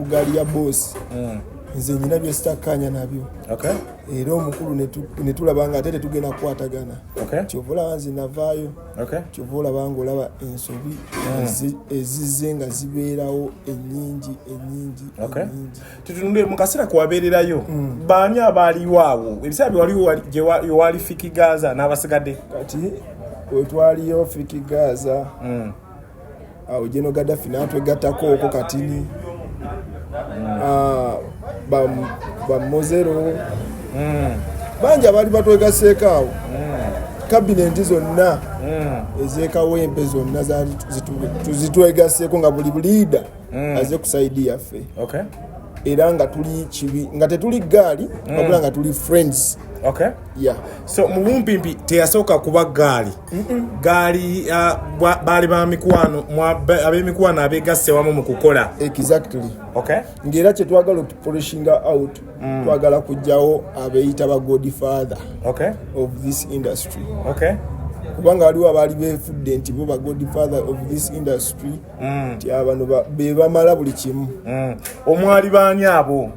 gaali ya boosi mm. nze nyina byesitakkaanya nabyo era omukulu ne tulaba nga ate tetugenda kukwatagana kyova olaba nze navaayo kyova olaba nga olaba ensobi mm. ezizze nga zibeerawo enyingi enyingi tutunule mu kaseera kuwabeererayo mm. baani abaaliwo awo ebiseera byewaliwo gyewali fiki gaza n'abasigadde kati wetwaliyo fiki gaza mm. awo jeno gadafi natwegatako oko katini ah, bamozero hmm. bangi abaali batwegaseeko awo hmm. kabinenti zonna hmm. ezekawempe zonna zitwegaseeko nga buli buliida aze kusaidi yaffe era nga tuli kibi nga tetuli gaali wabula nga tuli friends okay. yeah. so mubumpimpi teyasooka kuba gaali gaali uh, baali ba mikwano ab'emikwano abeegasse wamu mu kukola exactly okay. ng'era kye twagala okupolishinga out mm. twagala kujjawo abeeyita ba god father okay. of this industry okay. kubanga waliwo abaali befudde nti bo ba god father of this industry mm. nti mm. abano be bamala buli kimu mm. omwali baani abo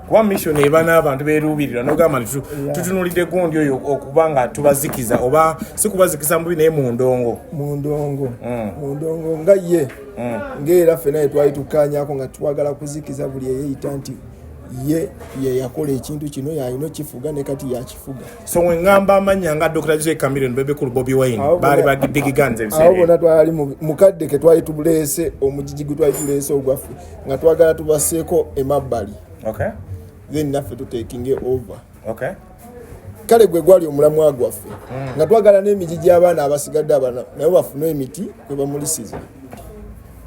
kuba mission eba n'abantu beruubirira nogamba nti tutunulidde gundi oyo okuba nga tubazikiza oba si kubazikiza mubi naye mundongo mundongo mm. mundongo nga ye mm. ngaera ffe naye twali tukanyako nga twagala kuzikiza buli eyeyita nti ye yeyakola ekintu kino yalina okifuga ne kati yakifuga so wengamba amanya nga dr j camiron bebekulu bobi wine baali bagidigiganze awo bona twali mukadde ke twali tubulese omujiji gwe twali tulese ogwaffe nga twagala tubaseeko emabbali okay. then naffe tutekinge over okay. kale gwe gwali omulamwa gwaffe mm. nga twagala n'emiti gy'abaana abasigadde abana nabo bafune emiti kwe bamulisiza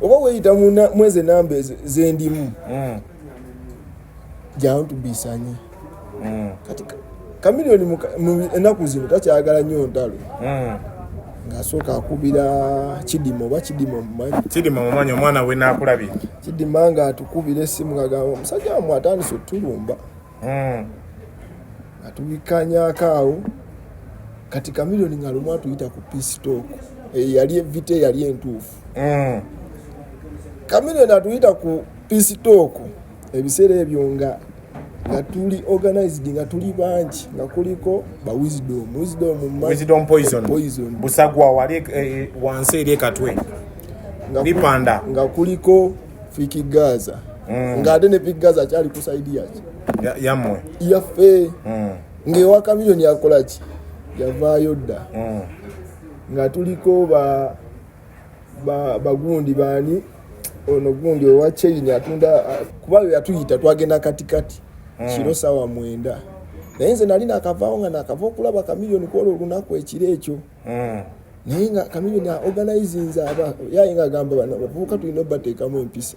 oba weyita mweze namba zendimu mm. jangu tubisanyi mm. kati kamiliyoni enaku zino takyagala nnyo ntalo mm. ngaasooka akubira kidima oba kidima omumanyikidima omumanyi omwana we nakulabye kidima nga atukubira esimu ngagamba omusajja wamwe atandise otulumba mm. atubikanyako awo kati kamiliyoni nga lumu atuyita ku pistok eh, yali evita eyali entuufu kamiliyoni atuyita ku pisitooko ebiseera ebyo nga nga tuli organized nga tuli bangi nga kuliko ba wisdom wisdom wisdom poison poison busagwa wali eh, eh wansi eri ekatwe lipanda nga kuliko fiki gaza mm. nga ate ne fiki gaza akyali ku saidi yaki yamwe yaffe mm. ngaewa kamiyoni akolaki yavaayo dda mm. nga tuliko ba bagundi baani ono gundi owa chain atunda kuba yatuyita twagenda katikati hmm. kiro sawa mwenda naye nze nali nakavaawo nga nakava okulaba kamiliyoni kwola olunaku ekiro ekyo hmm. naye nga kamiliyoni aorganizinze aba yaye nga agamba bana bavubuka tulina obateekamu empisa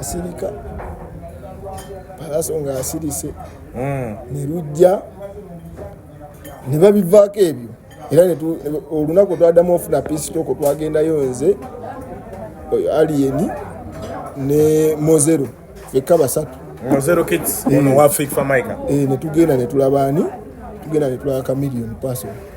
asirika palaso nga asirise hmm. ne lujja ne babivaako ebyo era olunaku twadamu ofuna pisitoko twagendayo nze aliyeni ne mozero fekka basatu mozero kits ono wa fik famaica eh, netugenda netulaba ani tugenda netulaba kamilion paso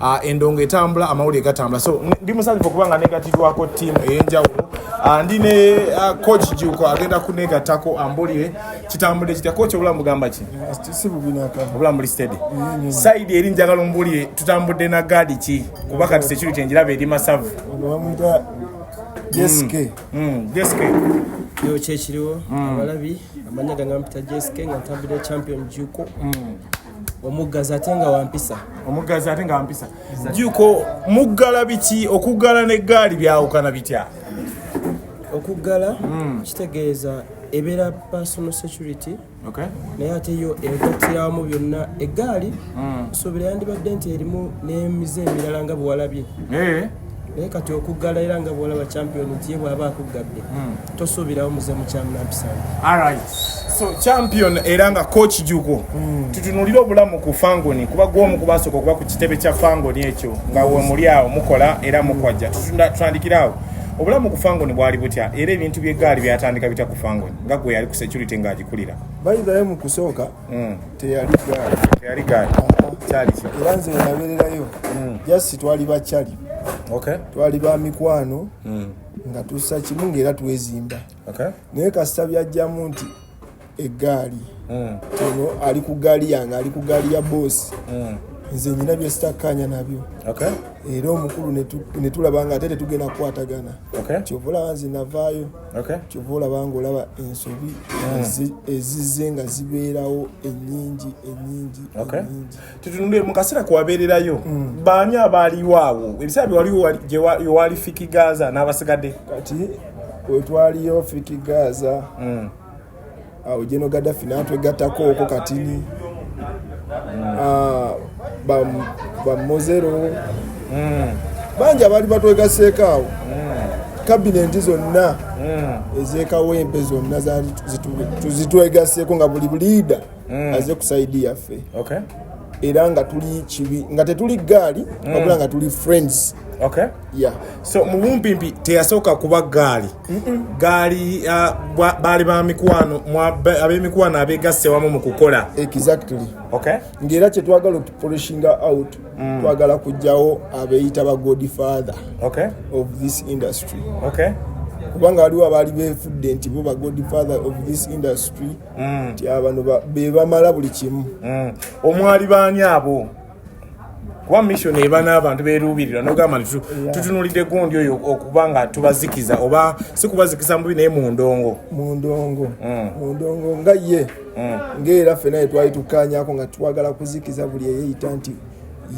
uh, endongo etambula amawulire gatambula so ndi musanyufu okuba nga negatidwako tiimu ey'enjawulo uh, ndi ne uh, coach juko agenda kunegatako ambulire kitambudde kitya coach obulamu bugamba ki obulamu buli stedi saidi eri njagala ombulire tutambudde na gaadi ki kuba kati sekiri kyenjiraba eri masavu jeske mm. mm. jeske yo kyekiriwo mm. abalabi amanya gangampita jeske nga ntambudde champion juko mm. omuggazi ate nga wampisa omuggazi ate nga wampisa juko muggala biki okuggala n'eggaali byawukana bitya okuggala hmm. kitegeeza ebeera personal security naye ate yo egattiramu byonna eggaali hmm. suubira yandibadde nti erimu n'emize emirala nga bwewalabye eh. naye kati okuggala era nga bwolaba champion nti ye bwaba akuggadde hmm. tosuubirawo muze mukyamnampisana alright so champion era nga coach jugo hmm. tutunulire obulamu ku fangoni kuba gwomu kubasooka okuba ku kitebe kya fangoni ekyo nga wemuli awo mukola era mukwajja tutandikiraawo obulamu ku fangoni bwali butya era ebintu byegaali byatandika bitya ku fangoni nga gwe yali ku security ng'agikulira bayidhayo mu kusooka hmm, teyali gaali teyali gaali kyali ki era nze nabererayo hmm. just twali bakyali okay twali ba mikwano hmm. nga tusa kimu ngaera twezimba okay naye kasita byajjamu nti eggaali hmm. ono ali ku gaali yange ali ku gaali ya boosi hmm. nze nyina byesitakkaanya nabyo era omukulu netulaba nga ate tetugenda kukwatagana kyovola nze navaayo kyova olaba nga olaba ensobi hmm. ezizze nga zibeerawo enyingi enyingi tutunule mu kaseera kwewabeererayo hmm. baani abaaliwo awo ebiseera byewaliwo yewali fiki gaza n'abasigadde kati wetwaliyo fiki gaza hmm. awo jeno gadafi natwegatako oko katini ah, bamozero hmm. bangi abaali batwegaseeko awo hmm. kabinenti zonna hmm. ezekawempe zonna zitwegaseeko nga buli buliida aze kusaidi yaffe era nga tuli kibi nga tetuli gaali wabula nga tuli friends okay. yeah. so mubumpimpi teyasooka kuba gaali gaali uh, baali ba mikwano ab'emikwano abeegasse wamu mu kukola exactly okay. ng'era kye twagala okupolishinga out mm. twagala kujjawo abeeyita ba god father okay. of this industry okay. kubanga waliwo abaali befudde nti bo ba god father of this industry mm. nti mm. abano be bamala buli kimu mm. omwali baani abo kuba mission eba n'abantu beruubirira nogamba nti tutunulidde gundi oyo okuba nga tubazikiza oba si kubazikiza mubi naye mundongo mundongo mm. mundongo nga ye mm. ngaera ffe naye twali tukanyako nga twagala kuzikiza buli eyeyita nti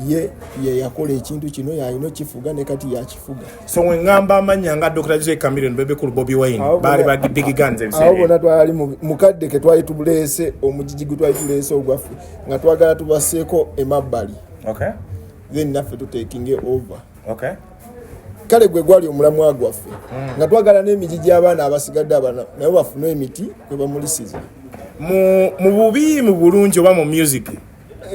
ye yeyakola ekintu kino yalina okifuga ne kati yakifuga so we ngamba amanya nga Dr. Jose Chameleon bebe kulu Bobby Wine bali ba big guns ebisere abo bona twali mukadde ke twali tubulese omujiji gwe twali tulese ogwafu nga twagala tubaseko emabali okay then nafe to taking it over okay kale gwe gwali omulamu agwafe mm. nga twagala ne mijiji abana abasigadde abana nayo bafuna emiti kwe bamulisiza mu mu bubi mu bulungi oba mu music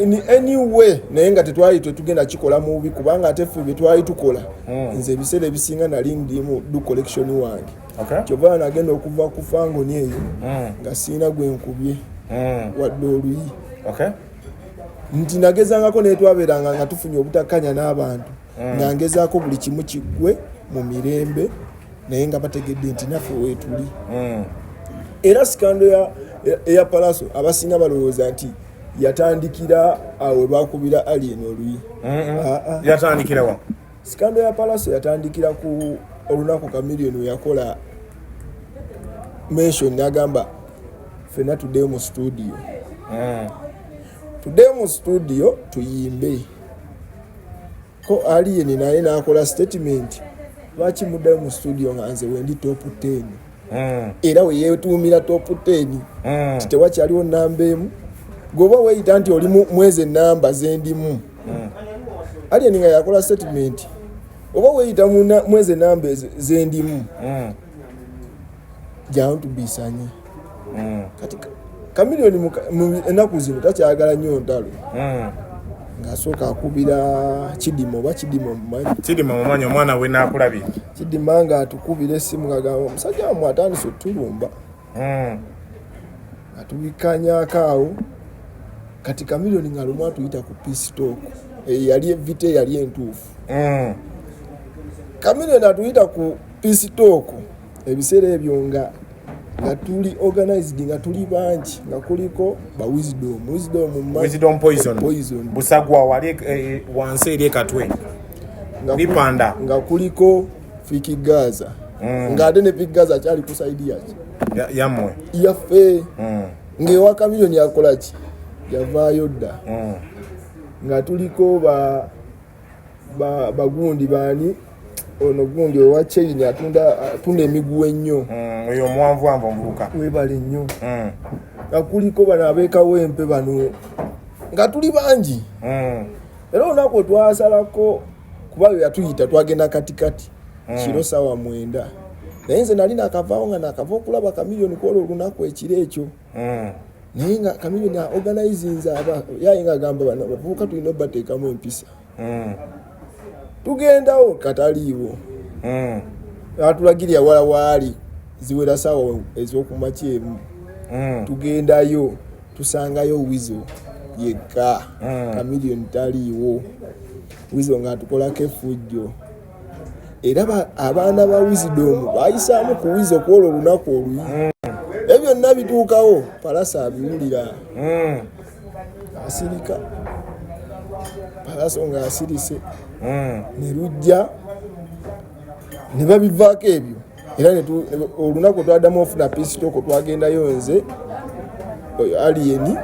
in any way naye nga tetwali tetugenda kikola mubi kubanga ate ffe byetwali tukola hmm. nze ebiseera ebisinga nali ndimu du collection wange kyova nagenda okuva ku fangoni eyo hmm. nga siina gwe nkubye hmm. wadde oluyi nti nagezangako naye twabeeranga nga tufunye obutakkanya n'abantu nga ngezaako buli kimu kiggwe mu mirembe naye nga bategedde nti naffe weetuli era sikando eya palaso abasinga balowooza nti yatandikira awo we bakubira alien oluyi ah, ah. yatandikira wa sikando ya palaso yatandikira ku olunaku kamilioni weyakola mention nagamba fena tuddeyo mu studio mm. tuddeyo mu studio tuyimbe ko alien naye nakola statement lwaki muddayo mu studio nga nze wendi top 10 mm. era weyetuumira topu teni mm. ti tewakyaliwo namba emu gweoba weyita nti oli mwezi enamba zendimu mm. alien nga yakola statement oba weyita mwezi enamba zendimu mm. jangu tubisanye mm. kati kamiliyoni enaku zino takyagala nyo ntalo mm. ngaasooka akubira kidima oba kidima mumanyi kidima mumanyi omwana wenakulabye kidima nga atukubira esimu ngagamba omusajja wamwe atandise otulumba hmm. atubikanyako awo kati kamilioni nga lumu atuyita ku pistok eyo yali evita eyali entuufu hmm. kamilioni atuyita ku pistok ebiseera ebyo nga nga tuli organized nga tuli bangi nga kuliko ba wisdom wisdom wisdom poison poison busagwa wali eh, eh wansi eri ekatwe bipanda nga kuliko fiki gaza mm. nga ate ne fiki gaza akyali ku side yaki yamwe yaffe mm. ngaewa kamiyoni yakolaki yavaayo dda mm. nga tuliko ba bagundi baani ono gundi owa chain atunda atunda emiguwa ennyo mm, oyo omuwanvu wanvu omuvubuka webale nnyo mm. nga kuliko bano abeekawo empe bano nga tuli bangi mm. era olunaku otwasalako kuba yo yatuyita twagenda katikati kiro sawa mwenda naye nze nali nakavaawo nga nakava okulaba kamiliyoni kwolwo olunaku ekiro ekyo hmm. naye nga kamiliyoni aorganizinze aba yaye nga agamba bana bavubuka tulina obateekamu empisa hmm. tugendawo kataliiwo hmm. atulagirya wala waali ziwera saawa ezokumakya emu tugendayo tusangayo wizo yekka kamiliyoni taliiwo wizo ngaatukolako efujjo era abaana ba wizidomu bayisaamu ku wizi okwolwo olunaku oluyi hmm. ebyo byonna bituukawo palasa abiwulira hmm. asirika palaso nga asirise hmm. ne lujja ne babivaako ebyo era olunaku twadamu ofuna pisitoko twagendayo nze aliyeni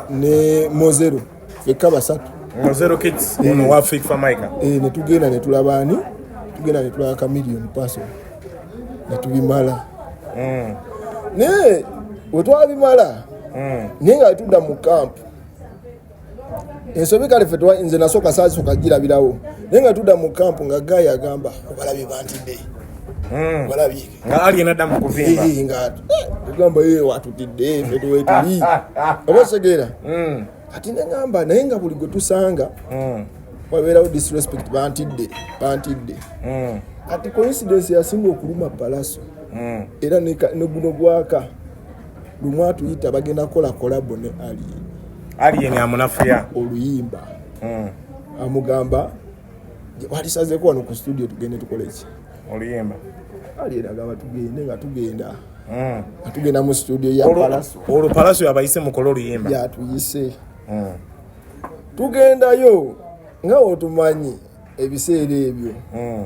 ne mozero fekka basatu zero kids eh. ono wa fake famica eh ne tugenda ne tulaba ani tugenda ne tulaba chameleon person ne tubimala mm ne wetwa bimala mm ne nga tuda mu camp ensobi kale fetwa nze nasoka sazi soka jira bilawo ne nga tuda mu camp nga guy agamba obalabi bantide mm obalabi nga ali enadda mu kuvimba nga eh, tugamba ye watutidde fe tuwetuli oba osegeera hmm. kati nengamba naye nga buli gwe tusanga hmm. wabeerawo disrespect bantidde bantidde hmm. kati coincidence yasinga okuluma palaso era neguno gwaka lumu atuyita bagenda kukola kolabo ne alien alien amunafuya oluyimba amugamba walisazeko wano ku studio tugende tukoleki oluyimba alieragaba tugende nga tugenda hmm. nga tugenda mu studio ya palaso olwo palaso yabayise mukole oluyimba yatuyise hmm. tugendayo nga otumanyi ebiseera ebyo hmm.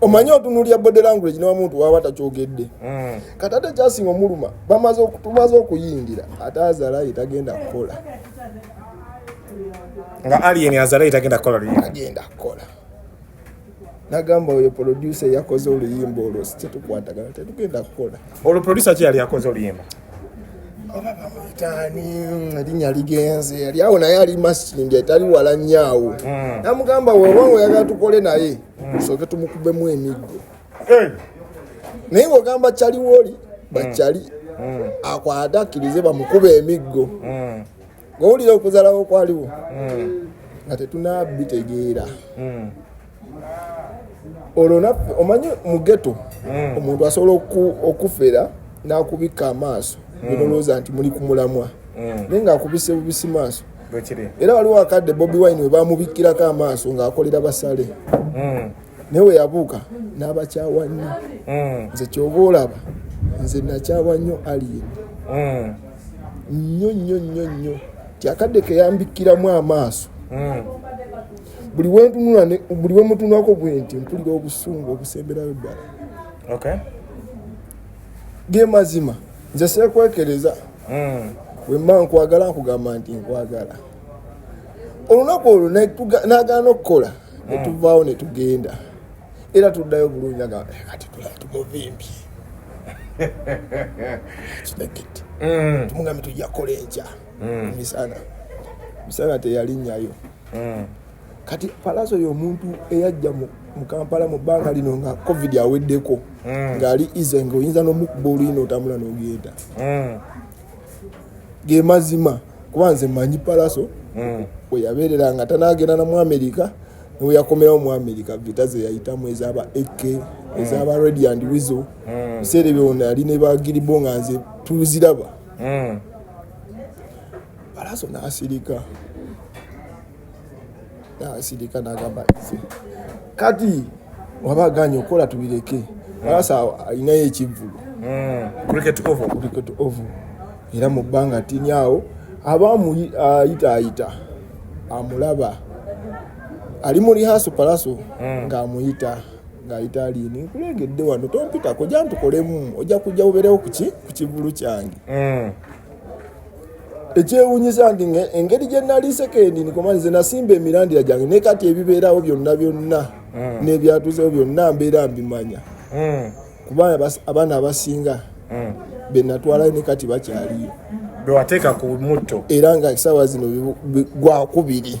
omanyi otunulya body language ne wamuntu waba takyogedde mm. kati ate kyasinga omuluma bamaze tumaze okuyingira ate azala yetagenda kukola nga alien azala yetagenda kukola agenda kukola nagamba oyo producer yakoze oluyimba olwo sikyetukwatagana tetugenda kukola olwo producer ki yali yakoze oluyimba tani linya ligenze yali awo naye ali masindi etali wala nyaawo mm. namugamba wewange oyagala tukole naye mm. soke tumukubemu emiggo eh. naye ogamba cali woli bacali mm. mm. akwate akkirize bamukuba emiggo mm. ngowulira okuzalawo kwaliwo nga tetunabitegeera olwo naffe omanyi mugeto omuntu asobola okufera nakubikka amaaso nolowooza nti muli kumulamwa naye ngaakubise bubisi maaso era waliwo akadde bobi wine webamubikkirako amaaso ng'akolera basale hmm. naye weyabuuka n'abakyawa nnyo hmm. nze kyoba olaba nze nakyawa nnyo alien hmm. nnyo nnyo nnyo nnyo kyakadde keyambikkiramu amaaso buli wentunula buli wemutunulako bwenti mpulira obusungu obusemberayo ddala ge mazima nze sekwekereza hmm. wemba nkwagala nkugamba nti nkwagala olunaku olwo nagaana okukola hmm. netuvaawo netugenda era tuddayo bulungi agamba eh, kati tulaba tumuvimbye kinekit hmm. tumugambe tujja kukola enkya misana misana teyalinyayo kati palaso yomuntu eyajja mu kampala mu bbanga lino nga covid aweddeko mm. ngaali ise nga oyinza nomukuba oluyina otambula nogenda mm. gemazima kuba nze manyi palaso mm. weyabeerera nga tanagenda namu amerika neweyakomerawo mu amerika vita zeyayitamu ezaba ak ezaba redi and wizo biseera ebyo ona yali nebagiribo nga nze tuziraba palaso nasirika asirika nagamba kati waba aganye okukola tubireke alasa alinayo ekivvulu hmm. cricket oval cricket oval era mu bbanga tini awo aba ayita ayita amulaba ali mu lihaso palaso hmm. ng'amuyita nga italiini nkulengedde wano tompitako jantukolemu ojja kujja uberewo kuki ku kivulu kyange hmm. ekyewunyiza ndi engeri gye nali sekendi nikoma nze nasimba emirandira gyange naye kati ebibeerawo byonna byonna mm. n'ebyatuzewo byonna mbeera mbimanya mm. kuba abaana abasinga mm. benatwalayo ne kati bakyaliyo bewateeka ku mutto era nga esaawa zino gwakubiri